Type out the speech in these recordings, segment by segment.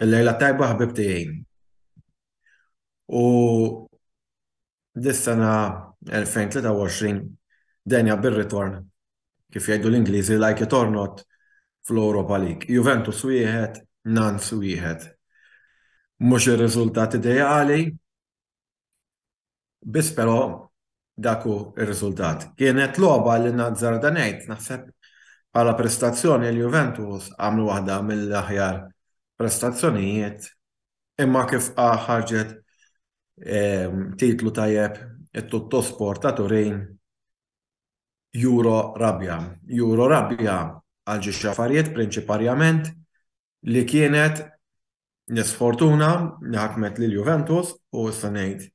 Il-lejla tajba ħbib tiegħi. U dis-sena 2023 denja bir-ritorn kif jgħidu l-Ingliżi like it or not fl-Europa League. Juventus wieħed, Nanz wieħed. Mhux ir-riżultat ideali, Biss però dak hu r-riżultat. Kienet logħba li nazzarda ngħid, naħseb bħala prestazzjoni l-Juventus għamlu waħda mill-aħjar prestazzjonijiet imma kif ħarġet titlu tajjeb it-Tuttosport ta' Turin juro rabja. Juro rabja għal xi affarijiet prinċiparjament li kienet l-isfortuna li ħakmet lil Juventus u issa ngħid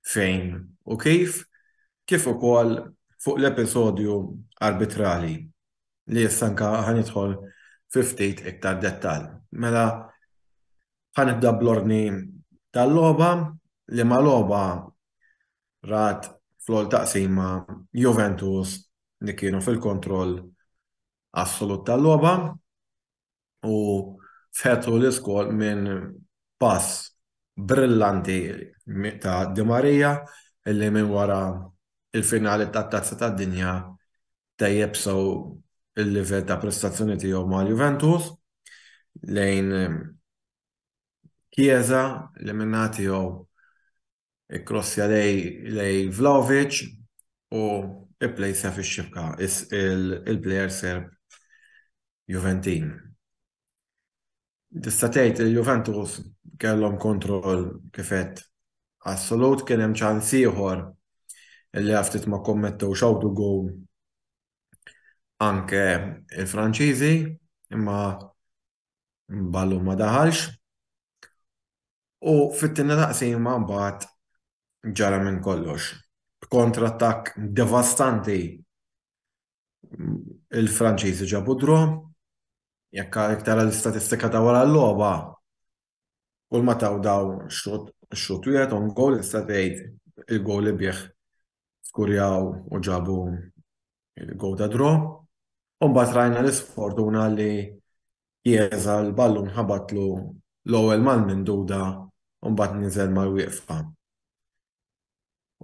fejn u kif, kif ukoll fuq l-episodju arbitrali li issa anke ħa nidħol fi ftit iktar dettall. Mela ħa nibda bl-ordni tal-logħba li ma' logħba rat fl-ewwel taqsima Juventus li kienu fil-kontroll assolut tal-logħba u fetħu l-iskor minn pass brillanti ta' Di Maria li minn wara l-finali tat-Tazza tad-Dinja tejjeb sew il-livell ta' prestazzjoni tiegħu ma' Juventus lejn Chiesa li min-naħa tiegħu Ikkrossja lejn Vlahovic u pplejsja fix-xibka il-plejer Serb Juventin. Tista' tgħid li l-Juventus kellhom kontroll kif għedt assolut, kien hemm ċans ieħor li għal ftit ma kkommettewx awtogol anke l-Franċiżi, imma Ballu ma daħalx u fit-tieni taqsima mbagħad ġara minn kollox. B'kontrattakk devastanti il-Franċiżi ġabu draw. Jekk tara l-istatistika ta' wara l-logħba Kull ma taw daw xut, xut wieħed on goal issa tgħid il-goal li bih skurjaw u ġabu il-goal ta' draw. U mbagħad rajna l-isfortuna li jeża l-ballun ħabatlu l-ewwel mal-minduda u mbagħad niżel mal-wieqfa.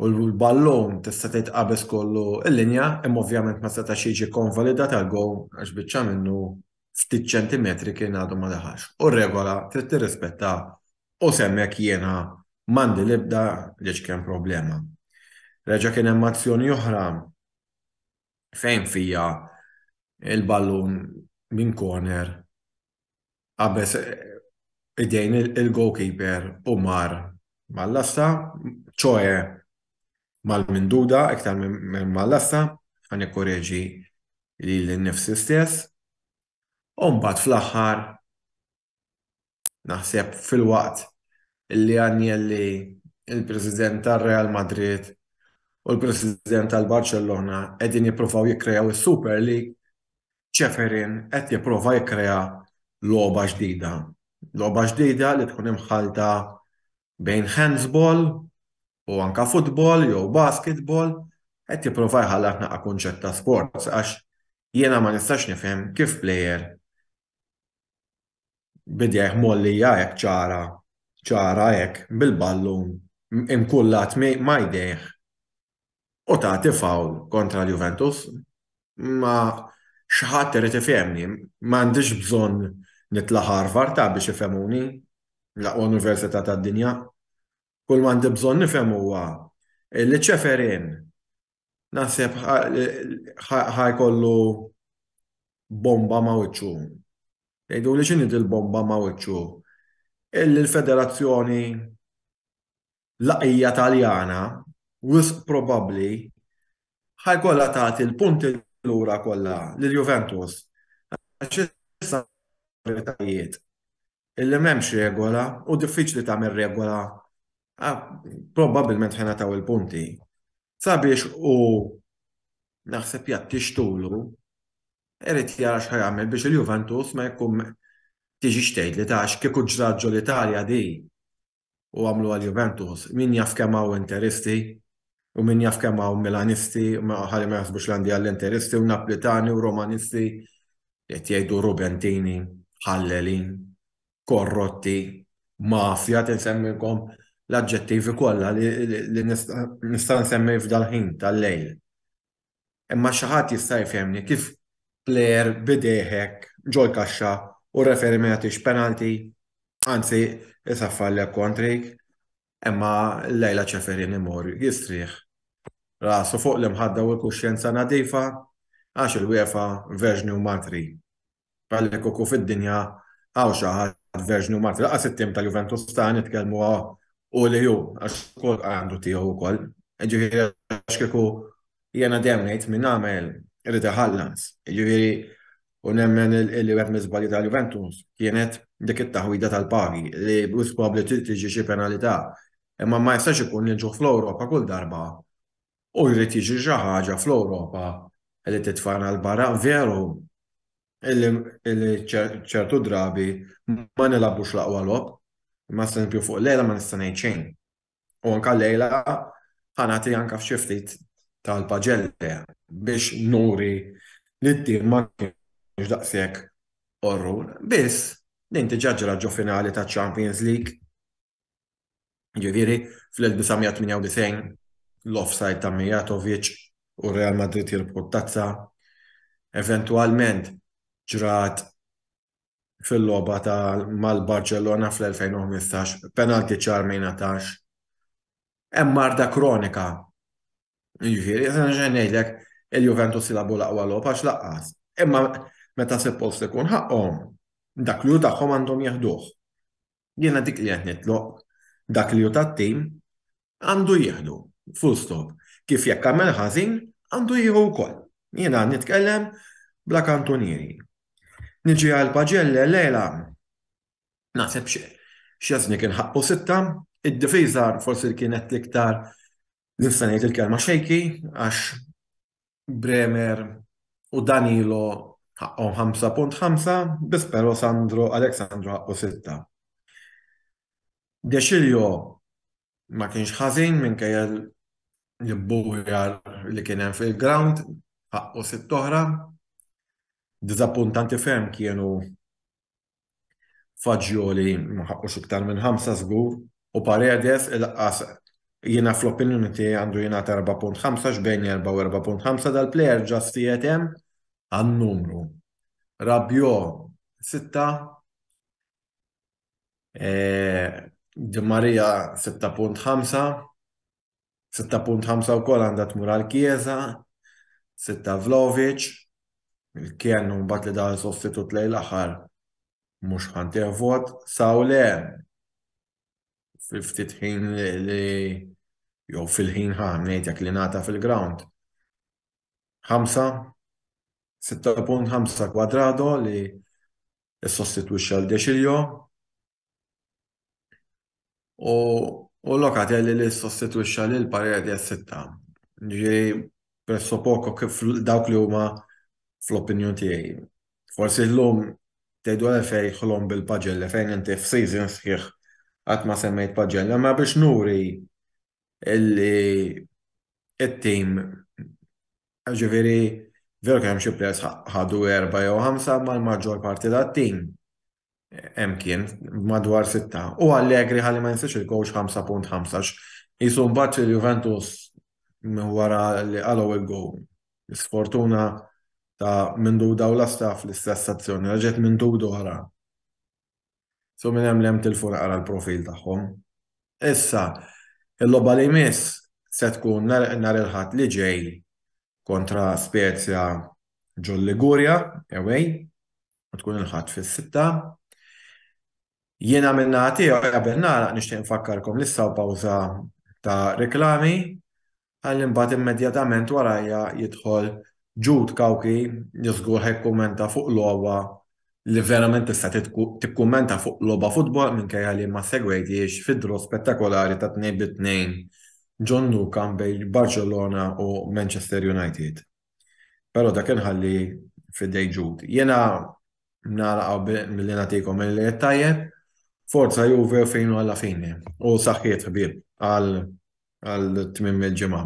u l-ballun tista' tgħid qabeż kollu l-linja imma ovvjament ma setax jiġi konvalidat għal gowl għax biċċa minnu ftit ċentimetri kien għadu ma daħalx u r-regola trid tirrispetta u s'hemmhekk jiena m'għandi l-ebda l-iċken problema. Reġa' kien hemm azzjoni oħra fejn fija l-ballun minn corner qabeż idejn il-goalkeeper u mar mal-lasta, ċoe mal-minduda iktar minn mal-lasta, ħa nikkoreġi lili nnifsi stess. U mbagħad fl-aħħar naħseb filwaqt li Agnelli, il-President tar-Real Madrid u l-President tal-Barċellona qegħdin jippruvaw jikkreaw is-Super League, Ceferin qed jipprova jikkrea logħba ġdida. Logħba ġdida li tkun imħallta bejn handsball u anke futbol jew basketball, qed jipprova jħallat naqra kunċett ta' sports għax jiena ma nistax nifhem kif plejer b'idejh mgħollija hekk ċara, ċara hekk bil-ballun imkullat ma' jdejh u tagħti foul kontra l-Juventus. Ma xi ħadd irid ifhemni, m'għandix bżonn nitla' Harvard ta' biex ifhemuni, l-aqwa università tad-dinja. Kull m'għandi bżonn nifhem huwa li Ceferin naħseb ħa jkollu bomba ma' wiċċu. Tgħiduli x'inhi dil-bomba ma' wiċċu? Illi l-federazzjoni L-għaqlija Taljana wisq probabbli ħa jkollha tagħti l-punti lura kollha lil Juventus għax issa l-awtoritajiet illi m'hemmx regola u diffiċli tagħmel regola probabbilment ħa jingħataw il-punti sabiex hu naħseb jgħattix tulu irid jara x'ħa jagħmel biex il-Juventus ma jkun tiġix tgħidli ta' għax kieku ġrat ġol-Italja din u għamlu għal Juventus. Min jaf kemm hawn Interisti u min jaf kemm hawn Milanisti, ħalli ma jaħsbux li għandi għall-Interisti u Naplitani u Romanisti li qed jgħidu Rubentini, ħallelin, korrotti, mafja tinsemmilkom l-aġġettivi kollha li nista' nsemmi f'dal-ħin tal-lejl. Imma xi ħadd jista' jfehmni kif plejer b'idejh hekk ġol-kaxxa u r-referi ma jagħtix penalty? Anzi, isaffallek kontrik. Imma llejla Ceferin imur jistrieħ rasu fuq l-imħadda u l-kuxjenza nadifa għax il-UEFA verġni u matri. Għalhekk ukoll fid-dinja hawn xi ħadd verġni u Malti. Laqas it-tim tal-Juventus ta' nitkellmu u li hu għax ukoll għandu tiegħu wkoll. Ġifieri għax kieku jiena dejjem ngħid min għamel irid iħallas. Ġifieri u nemmen li wieħed miżbalji tal-Juventus kienet dik it-taħwida tal-pagi li bus probabbli tiġi xi penalità. Imma ma jistax ikun li nġuh fl-Ewropa kull darba u jrid jiġri xi ħaġa fl-Ewropa li titfagħna 'l barra. Veru li ċertu drabi ma nilagħbux l-aqwa logħob, imma eżempju fuq lejla ma nista' ngħid xejn. U anke llejla ħa nagħti anke f'xi ftit tal-paġelle biex nuri li t-tim ma kienx daqshekk qorrun. Biss, din diġà ġrat ġo finali taċ-Champions League. Ġifieri, fl-1998 l-offside ta' Mijatovic u Real Madrid jirbħu t-tazza. Eventwalment ġrat fil-logħba ta' mal-Barċellona fl-2015, penalti ċar ma jingħatax. Hemm marda kronika. Jiġifieri, se ngħidlek il-Juventus jilagħbu l-aqwa logħob għax laqqas. Imma meta se post ikun ħaqqhom, dak li hu tagħhom għandhom jeħduh. Jiena dik li qed nitlob, dak li hu tat-tim għandu jieħdu, full stop. Kif jekk għamel ħażin, għandu jieħu wkoll. Jiena qed nitkellem bla kantunieri. Niġi għal Paġelle Lejla naħseb Szczesny kien ħaqqu sitta, id-difiża forsi kienet l-iktar nista' ngħid il-kelma xejki għax Bremer u Danilo ħaqqhom 5.5, biss però Sandro Alexandro ħaqqu 6. Dexilio ma kienx ħażin minkejja l-bujar li kien hemm fil-ground ħaqqu sitt oħra. Diżappuntanti ferm kienu Fagioli ma ħaqqux iktar minn ħamsa żgur u Paredes il-qqas jiena fl-opinjoni tiegħi għandu jingħata erba' punt ħamsa x'bejn erba' u erba' punt ħamsa dal-plejer ġast qiegħed hemm għan-numru. Rabiot sitta Di Maria sitta punt ħamsa. 6.5 wkoll għandha tmur għal Chiesa, 6 Vlovic, il-kien u mbagħad li daħal sostitut lejn l-aħħar mhux ħantih vot, Sawle ftit ħin li jew fil-ħin ħa ngħid jekk li nata fil-ground. 5 6.5 kwadrado li s-sostituxxa l-dexiljo, U u Locatelli li ssostitwixxa lil Paredes sitta. Ġifieri presso poco kif dawk li huma fl-opinjun tiegħi. Forsi llum tgħidu għalfejn ħlomm bil-Paġella fejn inti f'season sħiħ qatt ma semmejt Paġella, imma biex nuri illi t-tim ġifieri veru kien hemm xi players ħadu erbgħa jew ħamsa imma l-maġġor parti tat-tim hemm kien madwar sitta u Allegri ħalli ma jinsiex il-coach 5.15 jisu mbagħad il-Juventus wara li qalgħu il-go. Sfortuna ta' minn duda u lasta fl-istess azzjoni, raġet minn duda wara. So minn hemm lem tilfu naqra l-profil tagħhom. Issa, il-logħba li jmiss se tkun nhar il-ħadd li ġej kontra Spezia ġol Ligurja, away, u tkun il-ħadd fis-sitta. Jiena minna tiegħu qabel nagħlaq nixtieq nfakkarkom li saw pawża ta' reklami għal imbagħad immedjatament warajja jidħol Ġud Kawki li żgur ħajkummenta fuq logħba li verament tista' tikkummenta fuq logħba futbol minkejja li ma segwejtiex fid-draw spettakolari ta' tnejn bi tnejn ġo Nou Camp bejn Barċellona u Manchester United. Però dak inħalli f'idejn Jude. Jiena nagħlaq hawn milli nagħtikom il-lejl tajjeb. Forza Juve u fejnu alla fini. U saħħiet ħbieb għal tmiem il-ġimgħa.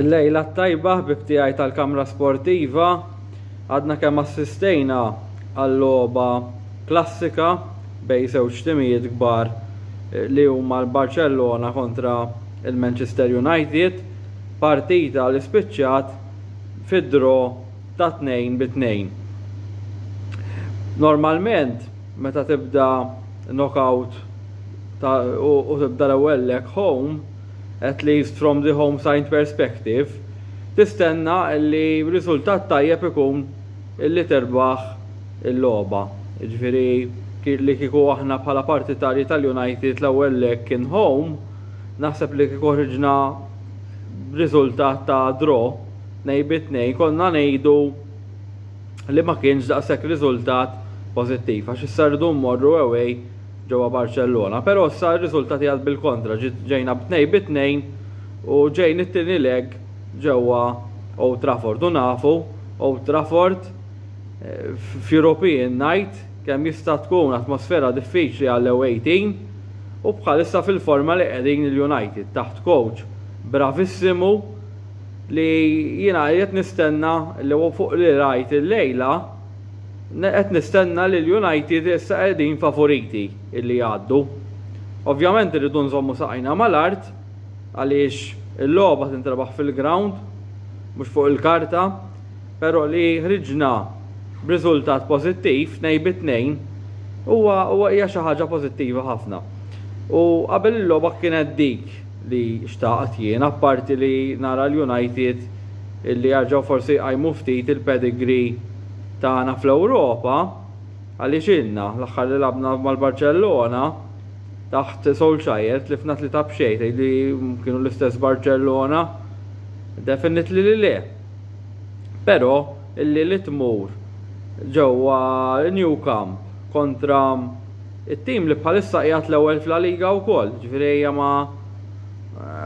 Il-lejla t-tajba ħbib tiegħi tal-kamra sportiva għadna kemm assistejna għall-logħba klassika bejn żewġ timijiet kbar eh, li huma l-Barcellona kontra il-Manchester United partita li spiċċat fid-dro ta' tnejn bi tnejn. Normalment Meta tibda knockout ta' u tibda l-ewwel leg home, at least from the home side perspective, tistenna li riżultat tajjeb ikun li tirbaħ il-logħba. Jiġifieri li kieku aħna bħala partitarji tal-United l-ewwel leg kien home, naħseb li kieku ħriġna b'riżultat ta' draw tnejn bi tnejn konna ngħidu li ma kienx daqshekk riżultat pożittiv għax issa rridu mmorru away ġewwa Barċellona. Però issa r-riżultati għad bil-kontra ġejna b'tnej bi tnejn u ġejn it-tieni leg ġewwa Old Trafford u nafu Old Trafford eh, f'European night kemm jista' tkun atmosfera diffiċli għall-away team u bħalissa fil-forma li qegħdin il-United taħt coach bravissimu li jiena qed nistenna li fuq li rajt illejla qed nistenna li l-United issa qegħdin favoriti illi jgħaddu. Ovvjament irridu nżommu saqajna mal-art għaliex il-logħba tintrebaħ fil-ground mhux fuq il-karta, però li ħriġna b'riżultat pożittiv tnejn bi tnejn huwa hija xi ħaġa pożittiva ħafna. U qabel il-logħba kienet dik li xtaqt jien, apparti li nara l-United illi jarġgħu forsi jqajmu ftit il-pedigree tagħna fl-Ewropa, għaliex ilna, l-aħħar li lagħbna mal-Barċellona taħt Solskjaer tlifna tlieta b'xejn, tgħidli kienu l-istess Barċellona? Definitely li le. Però illi li tmur ġewwa New Camp kontra It-tim li bħalissa qiegħed l-ewwel f'La Liga wkoll, ġifieri ejja ma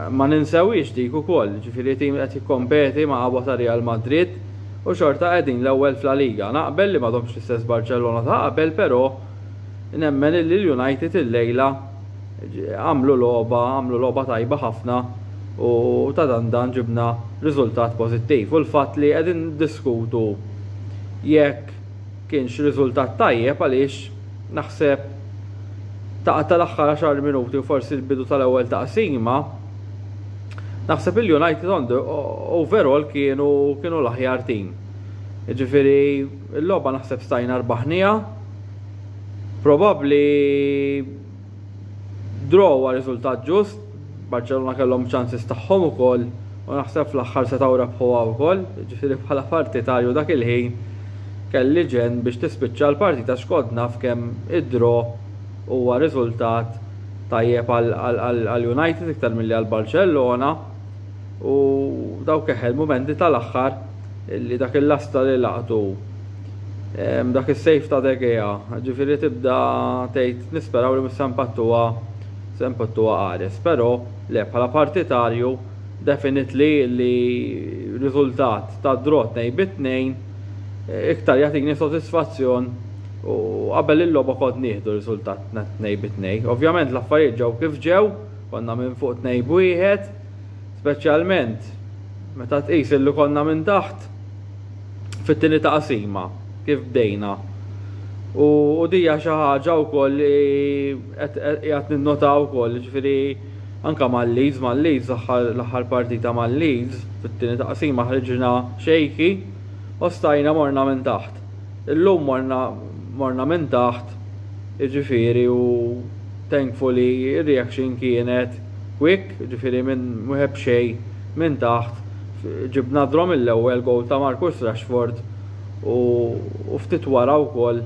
ma ninsewhiex dik ukoll, ġifieri tim li qed jikkompeti ma' qabwa ta' Real Madrid u xorta qegħdin l-ewwel f'La Liga. Naqbel li m'għadhomx l-istess Barċellona ta' qabel però nemmen illi l-United illejla għamlu logħba għamlu logħba tajba ħafna u ta' dan dan ġibna riżultat pożittiv u l-fatt li qegħdin niddiskutu jekk Kienx riżultat tajjeb għaliex naħseb taqa' tal-aħħar għaxar minuti u forsi l-bidu tal-ewwel taqsima naħseb il-United on the overall kienu kienu l-aħjar tim. Jiġifieri l-logħba naħseb stajna rbaħniha. Probabbli Draw huwa riżultat ġust, Barċellona kellhom ċansis tagħhom ukoll u naħseb fl-aħħar setgħu rebħuha wkoll, jiġifieri bħala partitarju dak il-ħin kelli ġenn biex tispiċċa l-partita għax kont naf kemm id-draw huwa riżultat tajjeb għal United iktar milli għal Barċellona u dawk eħe l-mumenti tal-aħħar. li dak il-lasta li laqtu dak is-sejf ta' degea, ġifieri tibda tgħid nisperaw li mhux se mpattuha se mpattuha qares. Però le bħala partitarju definitely li riżultat ta' draw tnejn bi tnejn iktar jagħtini sodisfazzjon u qabel il-logħba kont nieħdu riżultat tnejn bi tnejn. Ovvjament l-affarijiet ġew kif ġew, konna minn fuq tnejn b'wieħed, Speċjalment meta tqis illi konna minn taħt fit-tieni taqsima kif bdejna. U, u dija xi ħaġa wkoll li qed ninnota wkoll, ġifieri anke mal-Leeds, mal-Leeds l-aħħar partita mal-Leeds fit-tieni taqsima ħriġna xejki u stajna morna minn taħt. Illum morna morna minn taħt jiġifieri u thankfully ir-reaction kienet quick jiġifieri minn wieħed b'xejn minn taħt ġibna draw mill-ewwel goal ta' Marcus Rashford u ftit wara wkoll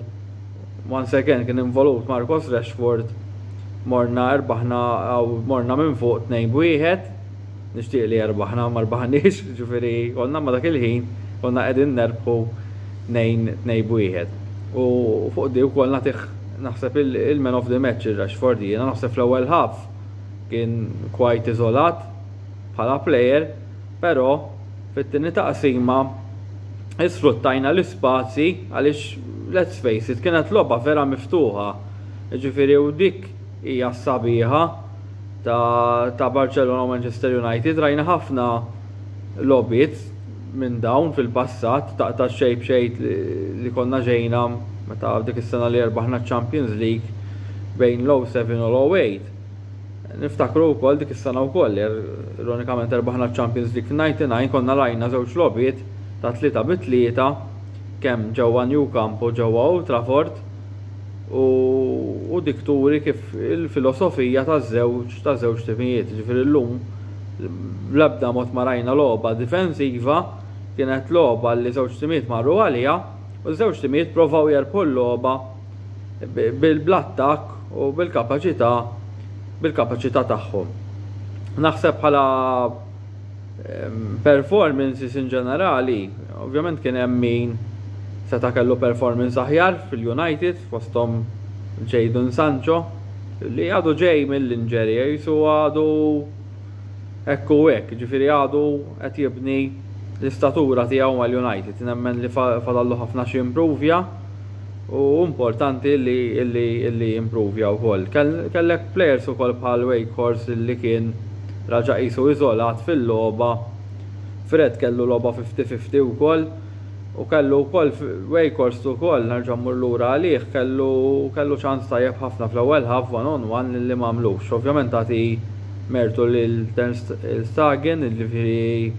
once again kien involut Marcus Rashford morna rbaħna morna minn fuq tnejn b'wieħed. nixtieq li erbaħna ma rbaħniex, ġifieri konna ma dak il-ħin konna qegħdin nerbħu nejn tnejn b'wieħed. U fuq di wkoll nagħtih naħseb il-man of the match ir-Rashford jiena naħseb fl-ewwel half kien quite iżolat bħala player, però fit-tieni taqsima isfruttajna l-ispazji għaliex let's face it kienet logħba vera miftuħa. Ġifieri u dik hija s-sabiħa ta' ta' Barcelona u Manchester United. Rajna ħafna logħbiet minn dawn fil-passat ta' ta' xejn b'xejn li konna ġejna meta dik is-sena li erbaħna ċ-Champions League bejn l-07 u l-08. Niftakru wkoll dik is-sena wkoll er, ironikament erbaħna ċ-Champions League fil-99 konna rajna żewġ logħbiet ta' tlieta bi tlieta kemm ġewwa New Camp u ġewwa Old Trafford u u dik turi kif il-filosofija taż-żewġ ta' żewġ timijiet. Ġifieri llum bl-ebda mod ma rajna logħba difensiva, kienet logħba li żewġ timijiet marru għaliha u ż-żewġ timijiet provaw jerbħu l-logħba bl-attakk u bil-kapaċità bil-kapaċità tagħhom. Naħseb bħala Performances in ġenerali, ovvjament kien hemm min seta' kellu performance aħjar fil-United fosthom Jadon Sancho li għadu ġej mill-injury qisu għadu hekk u hekk, jiġifieri għadu qed jibni l-istatura tiegħu mal-United. Nemmen li fadallu ħafna x'jimpruvja. u importanti li li li improvja wkoll. Kellek plejers ukoll bħal Wakehorse li kien raġa' qisu iżolat fil-logħba. Fred kellu logħba 50-50 wkoll u kellu wkoll Wakehorse ukoll nerġa' mmur lura għalih kellu kellu ċans tajjeb ħafna fl-ewwel half one on one li m'għamlux. Ovvjament tagħti mertu lil Ter Stegen jiġifieri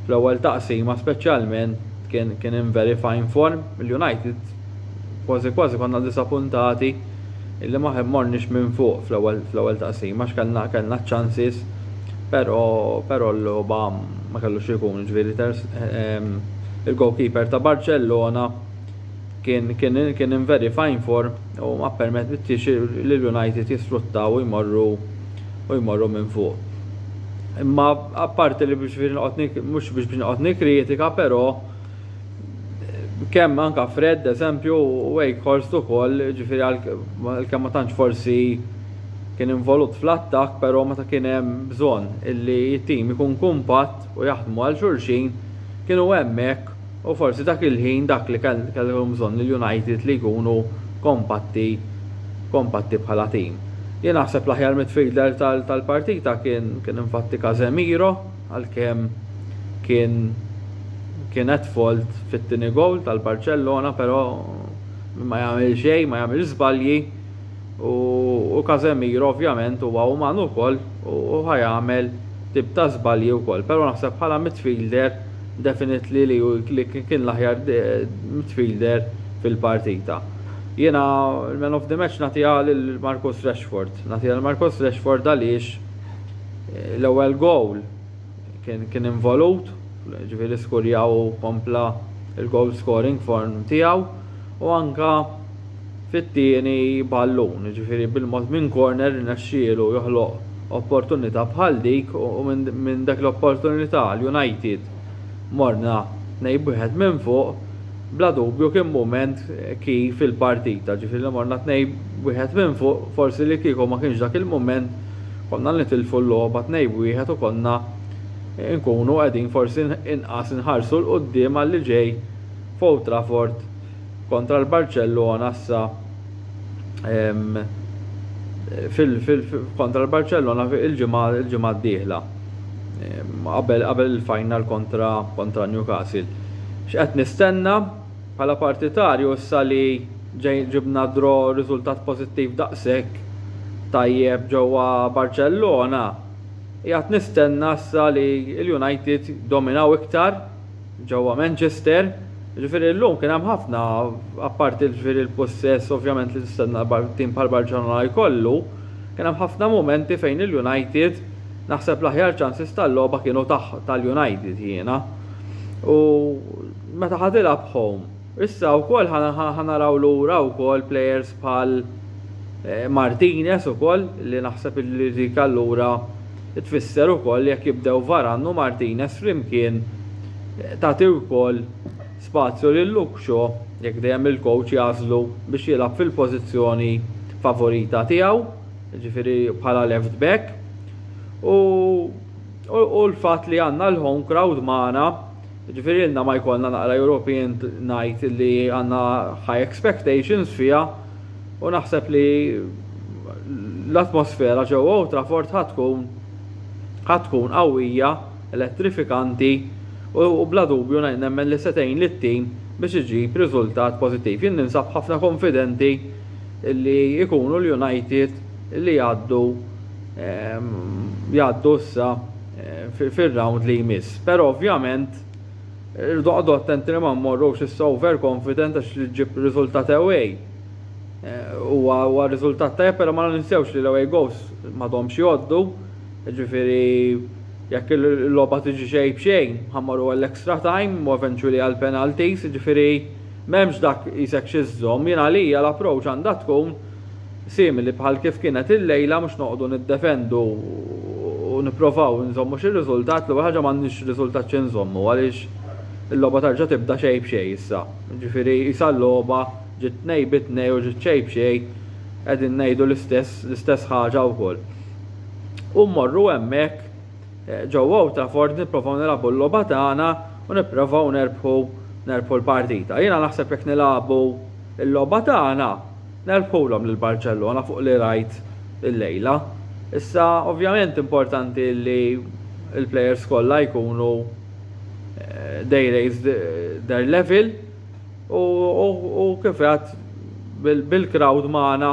fl-ewwel taqsima speċjalment Kien kien in very fine form l-United kważi kważi konna disapuntati illi ma morniex minn fuq fl-ewwel fl-ewwel taqsima għax kellna kellna ċ-ċansis però però l-logħba ma kellu x'ikun ġifieri ehm, il-goalkeeper ta' Barċellona Kien kien kien in very fine form u ma ppermettix lil United jisfruttaw u jmorru u jmorru minn fuq. Imma apparti li biex noqgħod mhux biex biex noqgħod nikkritika però kemm anke Fred eżempju u Wakehorst ukoll ġifieri għalkemm ma tantx forsi kien involut fl-attakk però meta kien hemm bżonn illi t-tim ikun kumpatt u jaħdmu għal xulxin kienu hemmhekk U forsi dak il-ħin dak li kellhom bżonn il-United li jkunu kompatti kompatti bħala tim. Jien naħseb l-aħjar midfielder tal-partita kien kien infatti Casemiro għalkemm kien kien at fault fit-tieni goal tal-Barċellona però ma jagħmel xejn ma jagħmel żbalji. u Casemiro ovvjament huwa uman ukoll u ħa jagħmel tip ta' żbalji wkoll, però naħseb bħala midfielder definitely li li kien l-aħjar midfielder fil-partita. Jiena l-man of the match nagħtiha lil Marcus Rashford. Nagħtiha lil Marcus Rashford għaliex l-ewwel gowl kien kien involut, ġifieri skurjaw u kompla il-goal scoring form tiegħu u anka fit-tieni ballun, ġifieri bil-mod minn corner irnexxielu joħloq opportunità bħal dik u minn dak l-opportunità l-United morna tnejn b'wieħed minn fuq, bla dubju kien mument key fil-partita, ġifieri li morna tnejn b'wieħed minn fuq forsi li kieku ma kienx dak il-mument konna nitilfu l-logħba tnejn b'wieħed u konna nkunu qegħdin forsi inqas inħarsu 'l quddiem għalli ġej f'Old Trafford kontra l-Barċellona issa kontra l-Barċellona il-ġimgħa d-dieħla qabel il-final kontra Newcastle. X'qed nistenna? Bħala partitarju issa li ġibna draw riżultat pożittiv daqshekk tajjeb ġewwa Barċellona, qiegħed nistenna issa li l-United jdominaw iktar ġewwa Manchester, jiġifieri llum kien hemm ħafna, apparti jiġifieri l-pussess ovvjament li tistenna tim bħal Barċellona jkollu, kien hemm ħafna mumenti fejn il-United, naħseb l-aħjar chances tal-logħba kienu tal-United jiena. U. meta ħa tilgħab home. Issa wkoll ħa naraw lura wkoll players bħal Martinez ukoll li naħseb li dik allura tfisser ukoll jekk jibdew Varane u Martinez flimkien tagħti wkoll spazju lil Luke Shaw jekk dejjem il-coach jagħżlu biex jilgħab fil-pożizzjoni favorita tiegħu, jiġifieri bħala left back. U u l-fatt li għandna l-home crowd magħna Jiġifieri ilna ma jkollna naqra European Night li għandna high expectations fiha u naħseb li l-atmosfera ġewwa Old Trafford ħa tkun ħa tkun qawwija, elettrifikanti u bla dubju nemmen li se tgħin lit-tim biex iġib riżultat pożittiv. Jien ninsab ħafna konfidenti li jkunu l-United li jgħaddu jgħaddu issa eh, fil-round li jmiss. Pero ovvjament, irdu għadu attenti li ma mmorrux issa overconfident għax li ġib riżultat away. Eh, huwa riżultat tajjeb, pero ma ninsewx li l-away goes ma domx joddu, ġifiri jekk il-loba tiġi xej bxejn, ħammaru għall-extra time u eventually għall-penalties, ġifiri memx dak jisek xizzom, jina li l-approach għanda tkun simili bħal kif kienet illejla mhux noqogħdu niddefendu u nipprovaw inżommu xi riżultat, l-ewwel ħaġa m'għandniex riżultat xi nżommu għaliex il-logħba terġa' tibda xejn b'xejn issa. Jiġifieri qisha l-logħba ġiet tnejn bi tnejn u ġiet xejn b'xejn qegħdin ngħidu l-istess l-istess ħaġa wkoll. U mmorru hemmhekk ġewwa Old Trafford nipprovaw nilagħbu l-logħba tagħna u nipprovaw nerbħu nerbħu l-partita. Jiena naħseb jekk nilagħbu l-logħba tagħna nerbħulhom lil Barċellona fuq li rajt illejla. Issa ovvjament importanti li l-plejers kollha jkunu they raised their level u kif għad bil-crowd magħna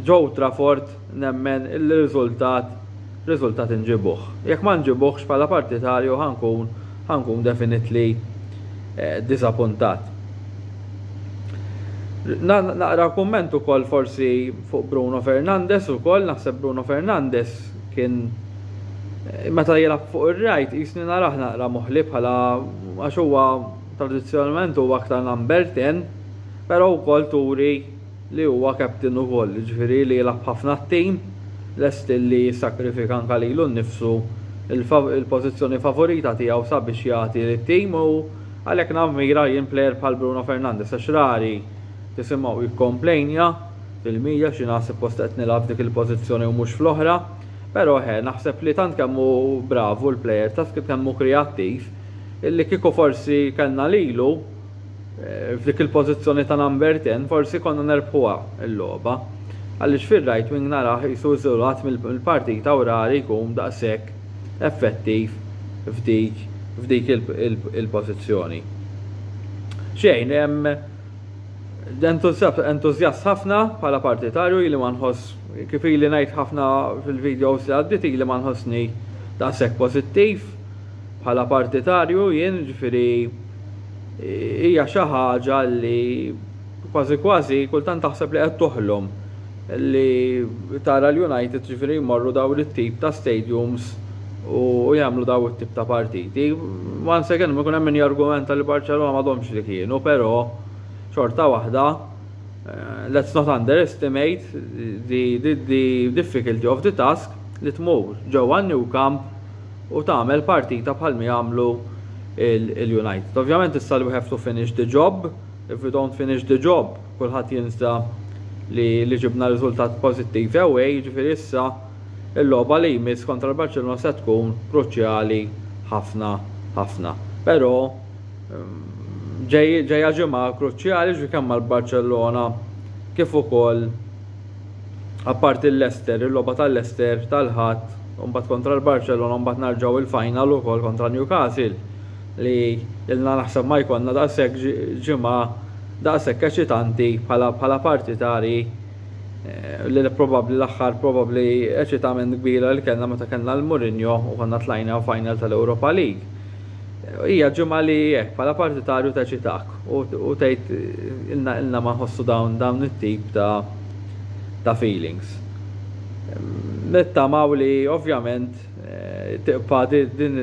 ġew Trafford nemmen illi riżultat riżultat inġibuh. Jekk ma nġibuhx bħala partitarju ħa nkun ħa nkun definitely diżappuntat. Naqra kumment ukoll forsi fuq Bruno Fernandes ukoll, naħseb Bruno Fernandes kien meta jilgħab fuq ir-rajt qisni narah naqra moħli bħala għax huwa tradizzjonalment huwa aktar number 10, però wkoll turi li huwa captain ukoll, jiġifieri li jilgħab ħafna għat-tim, lest li jissakrifika anke lilu nnifsu, il-pożizzjoni favorita tiegħu sabiex jagħti lit-tim u għalhekk nammira jien plejer bħal Bruno Fernandes għax rari tisimgħu jikkomplejnja fil-media xi ngħad suppost qed nilgħab f'dik il-pożizzjoni u mhux fl-oħra, però eħe naħseb li tant kemm hu bravu l-plejer, tant kemm hu kreattiv, illi kieku forsi kellna lilu, F'dik il-pożizzjoni ta' number ten forsi konna nerbħuha l-logħba. Għaliex fir-right wing narah qisu iżolat mill-partita u rari jkun daqshekk effettiv f'dik f'dik il-pożizzjoni. Xejn, entużjast ħafna bħala partitarju ili ma nħoss kif ili ngħid ħafna fil-videos li għaddiet ili ma nħossni daqshekk pożittiv bħala partitarju jien, jiġifieri hija xi ħaġa li kważi kważi kultant taħseb li qed toħlom li tara l-United ġifieri jmorru dawn it-tip ta' stadiums u jagħmlu dawn it-tip ta' partiti. Once again ma jkun hemm min jargumenta li Barcelona m'għadhomx li kienu, però xorta waħda eh, let's not underestimate the, the, the difficulty of the task li tmur ġewwa New Camp u tagħmel partita bħal mi għamlu il-United. Ovvjament issa li we have to finish the job, if we don't finish the job, kulħadd jinsa li, li ġibna riżultat pożittiv away, jiġifieri issa il-logħba li jmiss kontra l-Barcellona se tkun kruċjali ħafna ħafna. Però mm, ġejja ġimgħa kruċjali ġi kemm mal-Barcellona kif ukoll apparti l-Leicester, il-logħba ta' Leicester tal-Ħadd u mbagħad kontra l-Barċelona u mbagħad narġgħu il-final ukoll kontra Newcastle li ilna naħseb ma jkollna daqshekk ġimgħa daqshekk eċitanti bħala bħala partitari eh, li probabbli l-aħħar probabbli eċitament kbira li kellna meta kellna l-Mourinho u konna tlajna final tal-Europa League. Hija ġimgħa li hekk bħala partitarju teċitak u tgħid ilna ilna ma nħossu dawn dawn it-tip ta' ta' feelings. Nittamaw li ovvjament eh, tiqpa din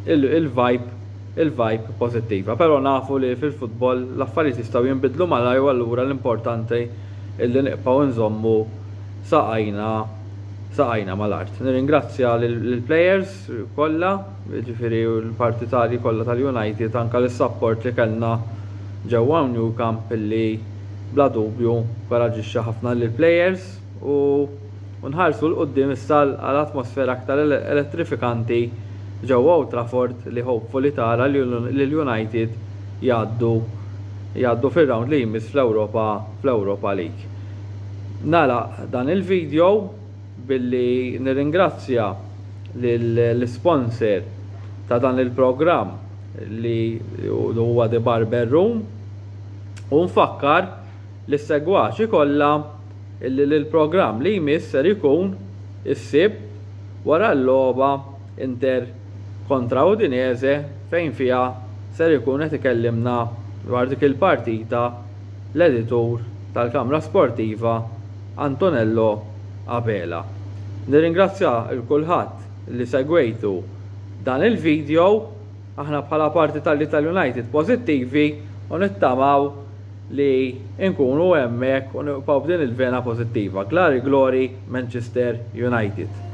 il-vibe il-vibe pozittiva, però nafu li fil-futbol l-affarijiet jistgħu jinbidlu malaj u allura l-importanti illi niqpaw nżommu saqajna saqajna mal-art. Nirringrazzja lill-players kollha, jiġifieri l-partitarji kollha tal-United, anke lis-sapport li kellna ġewwa hawn New Camp li bla dubju nkoraġġixxa ħafna lill-plejers u u nħarsu 'l quddiem issa għal atmosfera aktar elettrifikanti ġewwa Old Trafford li hopefully tara lill-United jgħaddu jgħaddu fir-round li jmiss fl-Ewropa fl-Ewropa League. Nagħlaq dan il-video. Billi nirringrazzja lill-isponser ta' dan il-programm li huwa The Barber Room u nfakkar lis-segwaċi kollha illi l-programm li jmiss ser ikun is-Sibt wara l-logħba Inter kontra Udinese fejn fiha ser ikun qed ikellimna dwar dik il-partita l-editur tal-Kamra Sportiva Antonello Abela. Nirringrazzja 'l kulħadd li segwejtu dan il-video, aħna bħala parti tal-Ital United pożittivi u nittamaw li nkunu hemmhekk u nibqgħu b'din il-vena pożittiva. Glari Glori Manchester United.